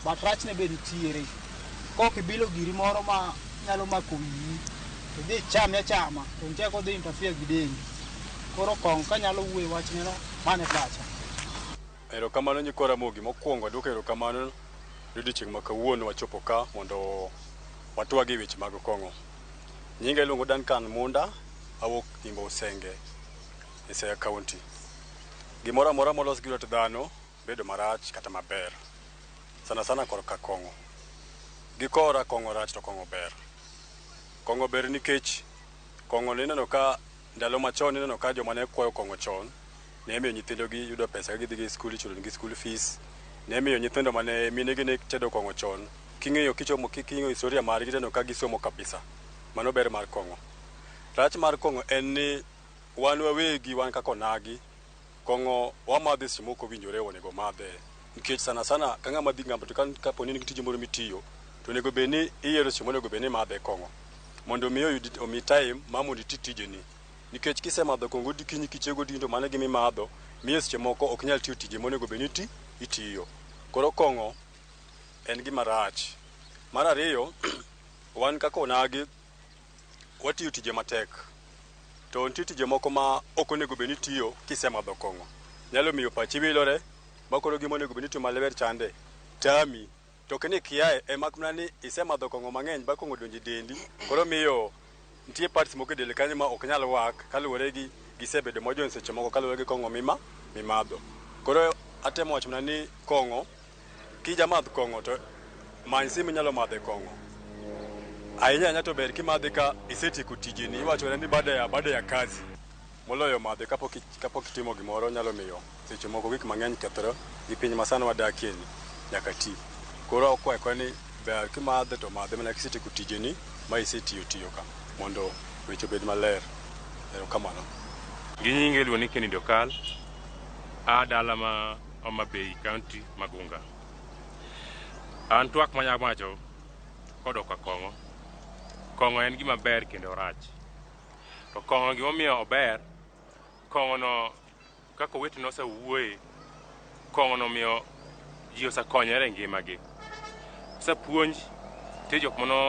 But rachne be nitiere. Kok ibilo giri moro ma nyalo mako wiyi, to idhi ichame achama, to nitie kaka odhi interfere gi dendi. Koro kong'o kanyalo wuoyo e wachne no, mano e pacha. Erokamano nyikwa Ramogi. Mokuongo aduoko erokamano ni odiochieng' ma kawuono wachopo ka mondo watwag e weche mag kong'o. Nyinga iluongo Duncan Munda, awuok Imbo Usenge e Siaya County. Gimoro amora molos gi lwet dhano bedo marach kata maber, sana sana kor ka kong'o. Gi kora kong'o rach to kong'o ber. Kong'o ber nikech kong'o ni ineno ka. Ndalo machon ineno ka joma ne kwayo kong'o chon ne miyo nyithindogi yudo pesa ka gidhi gi skul ichulo negi skul fees. Ne miyo nyithindo mane minegi ne tedo kong'o chon king'iyo kichomo king'iyo historia margi tineno ka gisomo kabisa. Mano ber mar kong'o. Rach mar kong'o en ni wan wawegi wan kaka onagi. Kong'o wamadhe seche moko owinjore onego omadhe nikech sana sana ka ng'ama dhi ng'anbo to kaponi in gi tije moro mitiyo to onego bed ni iyiero seche monego bed ni imadhe kong'o mondo mi oyud omi time ma mondo iti tijeni nikech kisemadho kong'o odikinyi kichiew godinyi to mano e gima imadho miyo seche moko ok inyal tiyo tije monego bed ni iti itiyo. Koro kong'o en gima rach. Mar ariyo wan kaka onagi Watiyo tije matek. To nitie tije moko ma ok onego bed ni itiyo kisemadho kong'o. Nyalo miyo pachi wilore ma koro gima onego bed ni itimo maler chande, tami. To ok ni ikiaye e mak mana ni isemadho kong'o mang'eny ba kong'o odonjo e dendi koro miyo nitie parts moko e del kanyo ma ok nyal work kaluwore gi gisebedo mojony seche moko kaluwore gi kong'o mimadho. Koro atemo wacho mana ni kong'o Kija madh kong'o to many sim inyalo madhe kong'o. Ahinya ahinya to ber kimadhe ka isetieko tijeni, iwachone ni baada ya baada ya kazi. Moloyo madhe kapok kapok itimo gimoro nyalo miyo seche moko gik mang'eny kethre gi piny masani wadakie ni nyaka ti. Koro akwayo kwa ni ber kimadhe to madhe mana kisetieko tijeni ma isetiyo tiyo ka mondo weche obed maler. Erokamano. Gi nyinge iluongo ni Kennedy Okal, a dala ma. Homa Bay County Magunga. An twak manya wacho kodok ka kong'o. Kong'o en gima ber kendo orach. To kong'o gimomiyo ober, kong'o no kaka owete no osewuoye, kong'o no miyo ji osekonyore e ngimagi. Osepuonj, nitie jok mano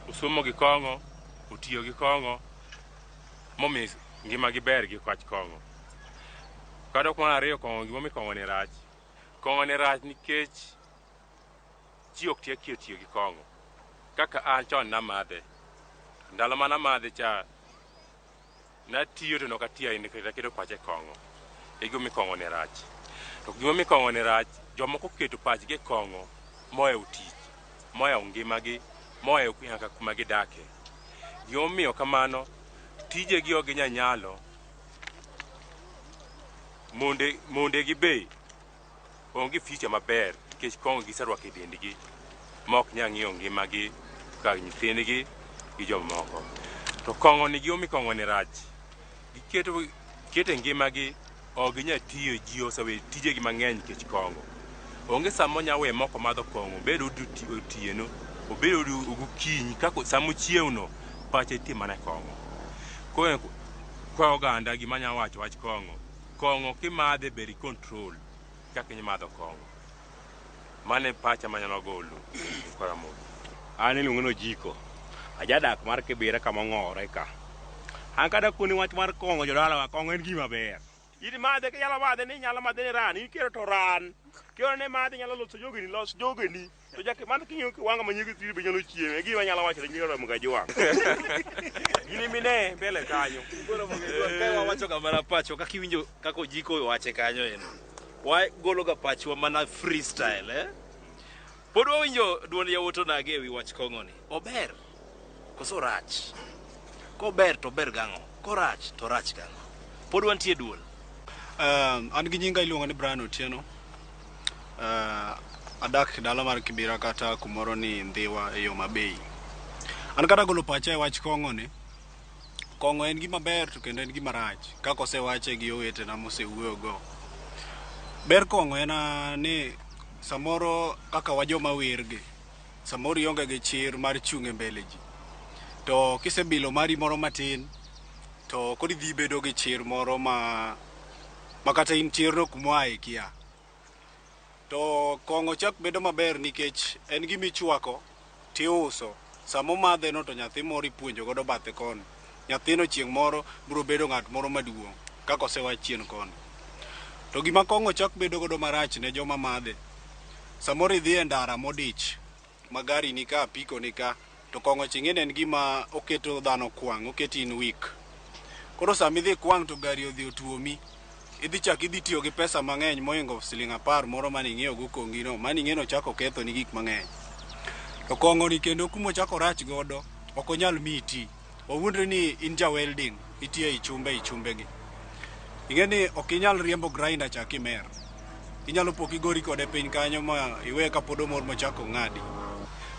osomo gi kong'o, otiyo gi kong'o. momi ngimagi ber gi kwach kong'o. Kadok mar ariyo kong'o gimomi kong'o ne rach. Kong'o ne rach nikech ji ok tiyo tiyo gi kong'o. Kaka an chon namadhe, ndalo mane amadhe cha natiyo to ne ok atiyo ahinya nikech aketo pacha e kong'o. E gima omiyo kong'o ne rach. To gima omiyo kong'o ne rach, jomoko oketo pachgi e kong'o mohewo tich. moyawo ngimagi moweyo nyaka kuma gidake. Gimomiyo kamano, tijegi ok ginya nyalo, monde, mondegi be onge ficha maber nikech kong'o giserwako e dendgi ma ok nyal ng'iyo ngimagi kaka nyithindgi gi jomoko. To kong'oni gimomiyo kong'oni rach Giketo kete ngimagi ok ginya tiyo ji osewe tijegi mang'eny nikech kong'o. Onge sama onya we moko madho kong'o, obed odi oti- otieno, obed odi gokinyi, kaka sama ochiewno pache nitie mana e kong'o. Koro kwa oganda gima anya wacho wach kong'o, kong'o kimadhe ber i control kaka imadho kong'o. Mane pacha manyalo golo Joseph Karamogi. An iluonga ni Ojiko, ajadak mar Kibira kama ong'owore ka. An kadwa koni wach mar kong'o jodalawa, kong'o en gima ber. In madhe kinyalo madhe ni inyalo madhe ni ran, in kihero to ran. Kihero ni madhe inyalo loso jogeni, los jogeni. To jaki madhe king'iyo kiwang'o ma nyinge thiri be inyalo chiemo. E gima anyalo wacho ne nyinge romo ga jwang'. In imine mbele kanyo. Koro wawacho ga mana pacho kaka iwinjo kaka Ojiko owache kanyo endo. Wagologa pachwa mana freestyle eh? Pod wawinjo duond yawuot onagi ewi wach kong'oni. Ober koso orach? Kober to ober gang'o? Korach to orach gang'o? Pod wantie duol. Um, an gi nyinga iluonga ni Brian Otieno. Uh, adak e dala mar Kibira kata kumoro ni Ndhiwa e yo mabei. An kata golo pacha e wach kong'oni, Kong'o en gima ber to kendo en gima rach kaka osewache gi owetena mosewuoyo go. Ber kong'o en ah, ni samoro kaka wa joma wer gi, samoro ionge gi chir mar chung' e mbele ji. To kisebilo mari moro matin, to koro idhi bedo gi chir moro ma ma kata in chirno kuma oa ikia. To kong'o chak bedo maber nikech en gima ichwako to iuso. Sama omadheno to nyathi moro ipuonjo godo bathe koni. Nyathino chieng' moro biro bedo ng'at moro maduong' kaka osewach chien koni. To gima kong'o chak bedo godo marach ne joma madhe, samoro idhi e ndara modich, ma gari ni ka, apiko ni ka, to kong'o ching'eni en gima oketo dhano kwang', oketi in weak. Koro sama idhi ikwang' to gari odhi otuomi, idhi chak idhi tiyo gi pesa mang'eny mohingo siling' apar moro mane ing'iewo go kongi no, mane ing'eno chak okethoni gik mang'eny. To kong'oni kendo kuma ochak orach godo, ok onyal miyi iti. Wawuondre ni in ja welding, itiyo ei chumbe ei chumbegi. Ing'e ni ok inyal riembo grinder cha kimer. Inyalo po kigori kode piny kanyo ma iwe kapod omor mochako ng'adi.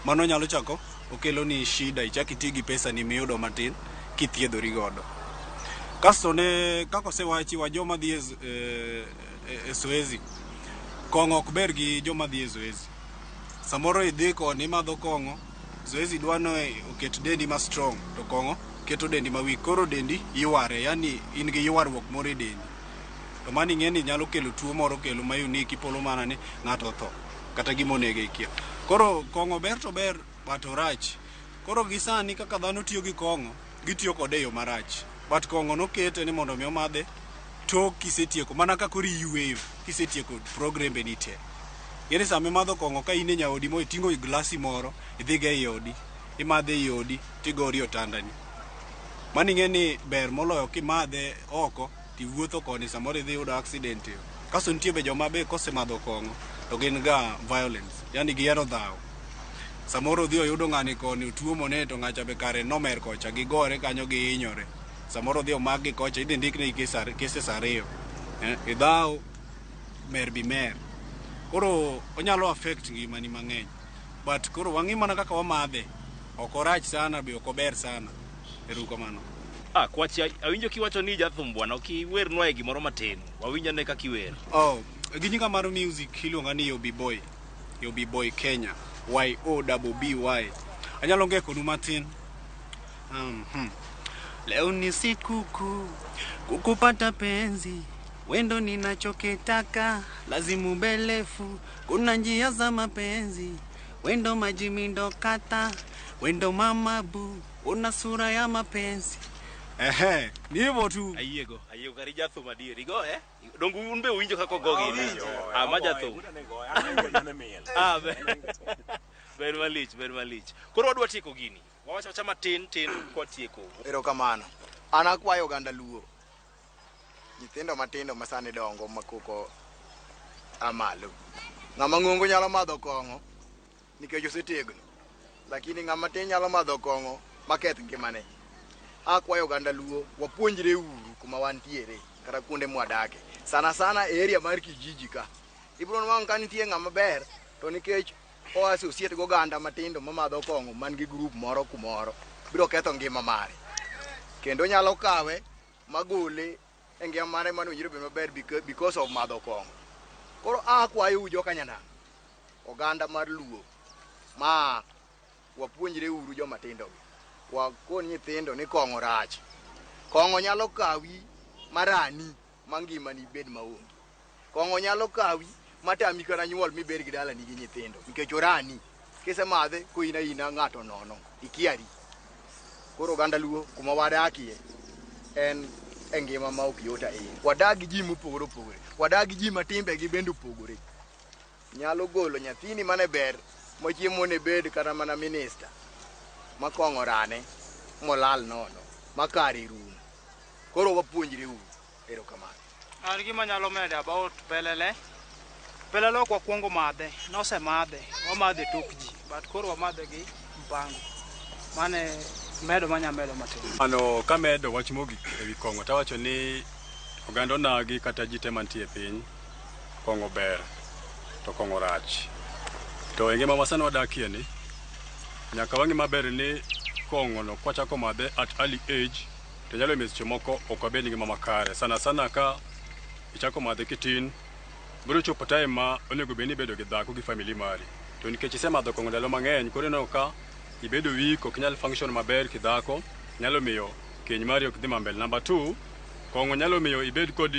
Mano nyalo chako okeloni shida, ichak iti gi pesani miyudo matin kithiedhori godo. Kasto ne kaka osewachi wa joma dhi e, z- e, e- e zoezi, kong'o ok ber gi joma dhi e zoezi. Samoro idhi koni imadho kong'o, Zoezi dwa ni oket dendi ma strong to kong'o keto dendi ma weak. Koro dendi yware, yani in gi ywaruok moro e dendi. To mano ing'eni nyalo kelo tuo moro kelo ma unique ipolo mana ni ng'ato otho kata gima onege ikia. Koro kong'o ber to ober but orach. Koro gi sani kaka dhano tiyo gi kong'o gitiyo kode e yo marach. But kong'o nokete ni mondo mi omadhe tok kisetieko mana ka koro iyueyo kisetieko progrembe ni te. Ng'eni sama imadho kong'o ka in e nyaodi mo iting'o i glasi moro idhiga ei odi imadhe ei odi tigori otandani. Mano ing'e ni ber moloyo kimadhe oko tiwuotho koni samoro idhi yudo accident e. Kaso nitie be joma be kosemadho kong'o to gin ga violence, yani gihero dhaw. Samoro odhi oyudo ng'ani koni otuo mone to ng'acha be kare nomer kocha gigore kanyo gihinyore. Samoro odhi omak gi kocha idhi ndik negi kes ar- cases ariyo. Eh, idhaw mer bi mer. Koro onyalo affect ngimani mang'eny. But koro wang'i mana kaka wamadhe. Ok orach sana be ok ober sana. Erukamano. Ah, kwach awinjo kiwacho ni jathum bwana, ok iwernwa e gimoro matin. Wawinj ane kaka iwer. Oh, gi nyinga mar music iluonga ni Yobi Boy. Yobi Boy Kenya. Y O double B Y. Anyalo ng'e konu matin. Um, hmm. Leo ni sikukuu kukupata penzi wendo ninachokitaka lazimu belefu kuna njia za mapenzi Wendo maji mindo kata wendo mama bu una sura ya mapenzi ehe ni hivyo tu ayiego ayiego kari jathum adier igo eh dongu un be uwinjo kaka ogo gini ah ma jathum ah be- ber malich ber malich koro wadwa tieko gini wawacha wacha matin tin kwa tieko Erokamano. An akwayo oganda Luo Nyithindo matindo ma sani dongo ma koko a malo. Ng'ama ng'ongo nyalo madho kong'o nikech osetegno, lakini ng'ama tin nyalo madho kong'o maketh ngimane. Akwayo oganda Luo wapuonjre uru kuma wantiere kata kuonde mwadake, sana sana e area mar kijiji ka. Ibiro nwang'o ka nitie ng'ama ber to nikech o associate gi oganda matindo mamadho kong'o man gi group moro kumoro biro ketho ngima mare kendo onyalo kawe magole e ngima mare mane owinjore obed maber beca- because of madho kong'o koro akwayou joka nyanam oganda mar luo ma wapuonjre uru joma tindogi wakon nyithindo ni kong'o rach kong'o nyalo kawi marani ma ngimani bed maonge Kong'o nyalo kawi matami kata nyuol mibed gi dalani gi nyithindo nikech orani kisemadhe koina ina ng'ato nono ikiari. Koro oganda Luo kuma wadakie en e ngima ma ok yot ahinya. Wadak gi ji mopogore opogore, wadak gi ji ma timbegi bende opogore. Nyalo golo nyathini mane ber mochiemo ne bed kata mana minista ma kong'o orane molal nono ma kare rumo. Koro wapuonjre uru. Erokamano. An gima anyalo medo about pelele, pelele ok wakuongo madhe, nosemadhe, wamadhe tok ji, but koro wamadhe gi mpango. Mano e medo ma anyalo medo matin. Ano kamedo wach mogik ewi kong'o tawacho ni oganda onagi kata ji te mantie e piny, kong'o ber to kong'o rach. To e ngima ma sani wadakie ni, nyaka wang'e maber ni kong'ono kwachako madhe at early age, To nyalo miyo seche moko ok wabed gi ngima makare sana sana ka ichako madhe kitin. Biro chopo time ma onego bed ni ibedo gi dhako gi family mari. To nikech isemadho kong'o ndalo mang'eny koro ineno ka ibedo weak ok inyal function maber kidhako nyalo miyo keny mari ok dhi ma mbele. Number two, kong'o nyalo miyo ibed kod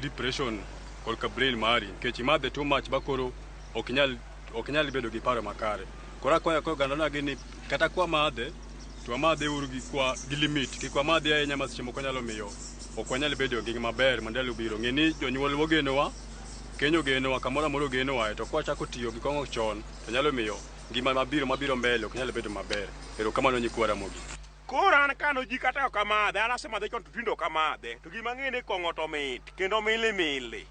depression korka brain mari nikech imadhe too much ma koro ok inyal ok nyal bedo gi paro makare. Koro akwayo ka oganda nagi ni kata kwa madhe to wamadhe uru gi kwa gi limit kik wamadhe ahinya ma seche moko nyalo miyo ok wanyal bedo gi ngima maber ma ndalo biro. Ng'e ni jonyuol ogenowa, keny ogenowa, kamoro amora ogenowae to kwachako tiyo gi kong'o chon to nyalo miyo ngima mabiro mabiro mbele ok nyal bedo maber. Erokamano nyikwa Ramogi. Koro an kano ji kata ok amadhe, an asemadhe chon to tinde ok amadhe. To gima ang'e ni kong'o to mit kendo mili mili.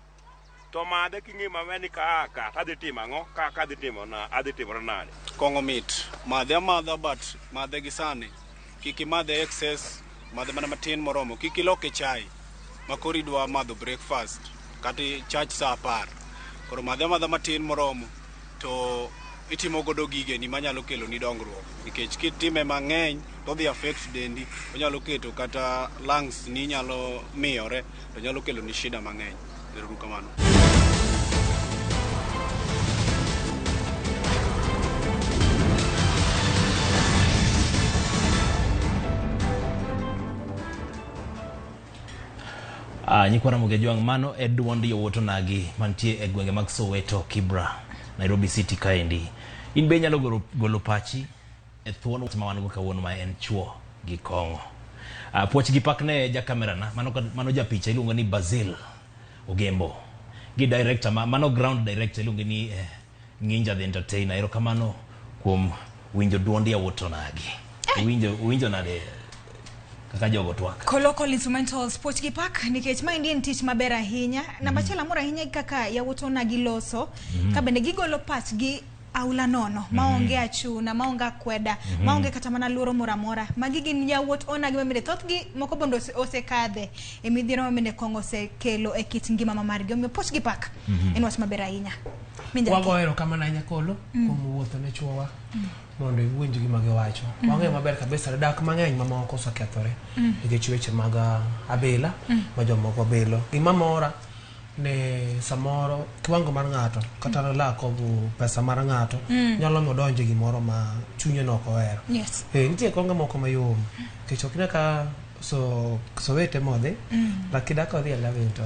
To madhe king'e maber ni kaa ka to adhi timo ang'o, kaa ka adhi timo na adhi timore nade. Kong'o mit. Madhe amadha but madhe gi sani. Kik imadhe excess, madhe mana matin moromo. Kik iloke chai ma koro idwa madho breakfast kata ichach sa apar. Koro madhe amadha matin moromo. to itimo godo gigeni manyalo keloni dongruok nikech kitime mang'eny to odhi affect dendi onyalo keto kata lungs ni nyalo miyore to nyalo keloni shida mang'eny erouru kamano Uh, nyikwa Ramogi Ajwang' mano e dwond yowuot onagi mantie e gwenge mag Soweto, Kibra, Nairobi City kaendi. In be inyalo golo, golo pachi e thuon wach ma wan go kawuono ma en chuo gi kong'o. Uh, puoch gi pak ne ja kamerana mano, ka- mano ja picha iluongo ni Basil Ogembo gi director ma, mano ground director iluongo ni eh, Ng'inja the entertainer, erokamano kuom winjo duond yawuot Onagi. Eh. Uwinjo, uwinjo nade kaka jogo twak? Collocal instrumentals poch gi pak nikech ma endi en tich maber ahinya. Mm. Namba achiel amor ahinya gi kaka yawuot Onagi loso, mm. ka bende gigolo pachgi aula nono mm. maonge achuna maonge akweda mm -hmm. maonge kata mana luoro moro amora magi gin yawuot onagi mamine thothgi moko bondo osekadhe ose e midhiero mamine kong'o osekelo e kit ngima ma margi omiyo poch gi pak mm -hmm. en wach maber ahinya Minjaki. Wagoyo erokamano ahinya Kolo kuom wuotho ne chuowa mondo iwinj gima giwacho. Wang'eyo maber kabisa ni dak mang'eny mamoko osekethore nikech weche mag ah, abila ma jomoko bilo. Gima mora ni samoro kiwango mar ng'ato kata lack of pesa mar ng'ato nyalo miyo odonjo e gimoro ma chunye ne ok ohero. Yes. Eh, nitie konge moko mayom nikech ok ine ka so so wete modhi mm. but kidako dhi alawe to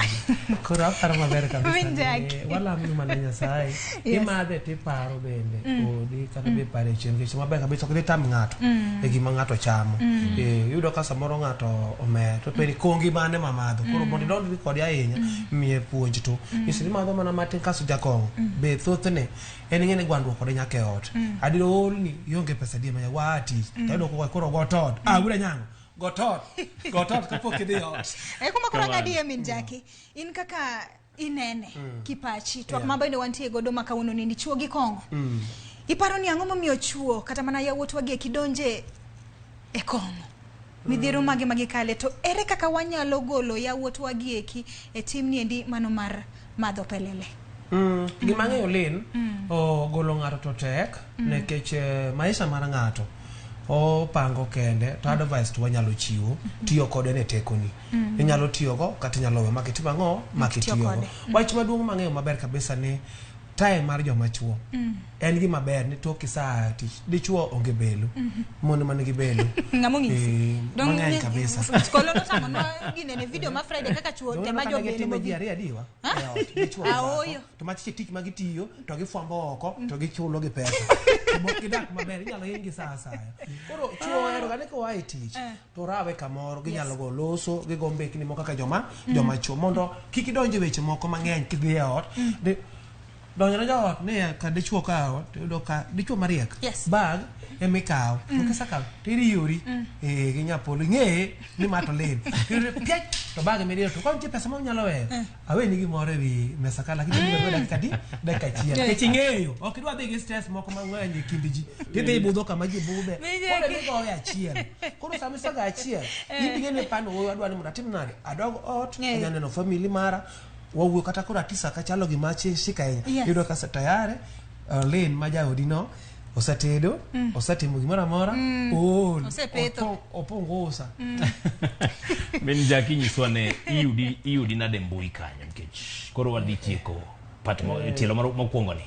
koro aparo maber kabisa wala mimi mana nyasaye yes. imadhe tiparo bende mm. odi kata mm. bipare chien kicho maber kabisa kidhi tam ng'ato mm. e gima ng'ato chamo mm. e, yudo ka samoro ng'ato omer to peri mm. kongi mane mamadho koro mm. mondo idonjri kode ahinya mm. miye puonj to mm. isiri madho mana matin kaso jakong'o mm. be thothne en ing'e ni gwandruok kode nyaka e ot mm. adiro olni ionge pesa die manya wa tich mm. tayudo koko koro go tot ah wuda nyango go tot go tot kapok idhi ot e kuma koro ngadi e min jaki in kaka inene mm. kipachi twak yeah. ma bende wantie godo ma kawuono ni dichuo gi kong'o mm. iparo ni ang'o momiyo chuo kata mana yawuotwa gi e kidonje e kong'o midhiero mm. mage magikale to ere kaka wanyalo golo yawuotwa gi eki e tim niendi mano mar madho pelele mm. gima ng'eyo lin mm. ogolo ng'ato to tek mm. nekech eh, maisha mar ng'ato opango kende to advice to wanyalo chiwo tiyo kode ne tekoni mm. inyalo tiyogo kata inyalo we makitimo ang'o makitiyogo mm. wach maduong' mang'eyo maber kabisa ni time mar joma chuo mm. en gima ber ni tok saa tich dichuo onge belu mm -hmm. mon man gi belu ngamo ngisi e, don ngani kabisa skolo no tamo no gine ne video ma friday kaka chuo te ma jo belu mo gi ari adiwa dichuo a oyo to ma tich tich ma gitiyo to gi fwambo oko to gi chulo gi pesa mo kidak maber inyalo hingi saa saa koro chuo ero gane ko ai tich eh. to rawe kamoro ginyalo go loso gigo mbekni moko kaka joma mm. joma chuo mondo kik idonj e weche moko mang'eny kidhi e ot mm. donjone joot ni ka dichuo ka ot iyudo ka dichuo mariek bag ema ikawo mm. kisekawo to iriyori mm. eh, gi nyapolo ing'eye ni ma to lil piach to bag emiriyo to koro nitie pesa ma unyalo weyo eh. aweni gimoro ewi mesa ka lakini biro kwa dakika di dakika achiel nikech ing'eyo ok idwa dhi gi stress moko mang'eny e kind ji tidhi ibudho kama ji budhe Mija- koro ni gowe achiel koro sama isaga achiel ibige ni pano wuoyo adwa ni mondo atim nade adog ot Eh. anya neno family mara wawuoyo kata koro atisa kachalo gima achie shika Yes. ahinya yudo kasa tayare uh, len ma jaodi no osatedo mm. osatimo gimoro amora mm. ool opongo usa mm. min jaki nyiswa ne iyudi iyudi nade mbui kanyo nikech koro wadhi tieko pat eh. tielo mokwongo ni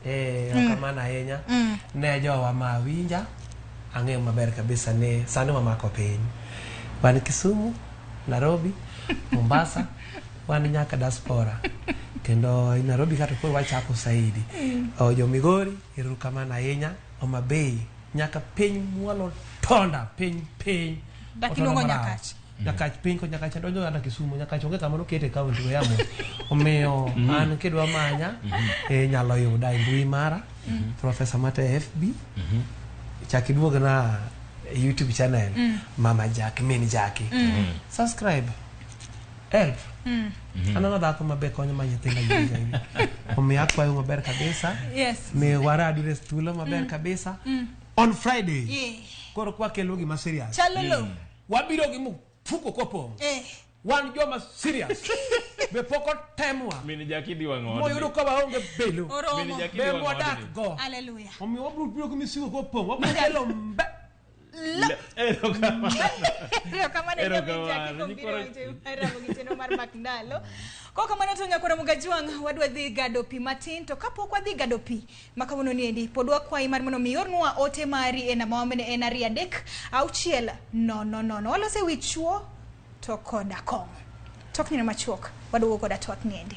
eh, mm. kamano ahinya mm. ne jowa ma winja ang'eyo maber kabisa ni sani wamako piny wan kisumu nairobi mombasa wan nyaka diaspora kendo nairobi kato koro wachako saidi mm. oh, jo migori Erukamano ahinya Homa Bay nyaka piny mwalo tonda piny piny Dak Otonda iluongo marach. Nyakach. Nyakach piny ko Nyakach adonjo kata Kisumo Nyakach onge kama nokete e kaunti go yamo omiyo Mhm. an kidwa manya Mhm. eh, inyalo yuda e mbui mara Mhm. Professor Mate FB Mhm. chak iduogna e YouTube channel Mm. Mama Jack min Jackie Mm. subscribe Elf. Mm. Mm-hmm. Aneno dhako mabe konyo ma nyithinda yini. Omiyo akwayo maber kabisa. Yes. Mi wara adures thuolo maber mm. kabisa. Mm. On Friday. Yeah. Koro kwa kelo gima serious. Chalolo. Mm. Wabiro gi mfuko kopong'. Eh. Wan joma serious. Be pok otemwa. Mini jakidi wang'o. Moyudo ka waonge belo. Mini jakidi wang'o. Be wadak go. Hallelujah. Omiyo wabiro biro gi misigo kopong'. Wabiro kelo mbe. erokamano erokamano mar mak ndalo ko kamano to nyakora mugajwang' wadwa dhi gado pi matin to kapok wadhi gado pi ma kawuono niendi pod wakwayi mar mondo mi ornwa ote mari e namba mamene en ariyo adek auchiel nono nono walose wi chuo to koda kong'o tok nyina machuok wadwogo koda twak niendi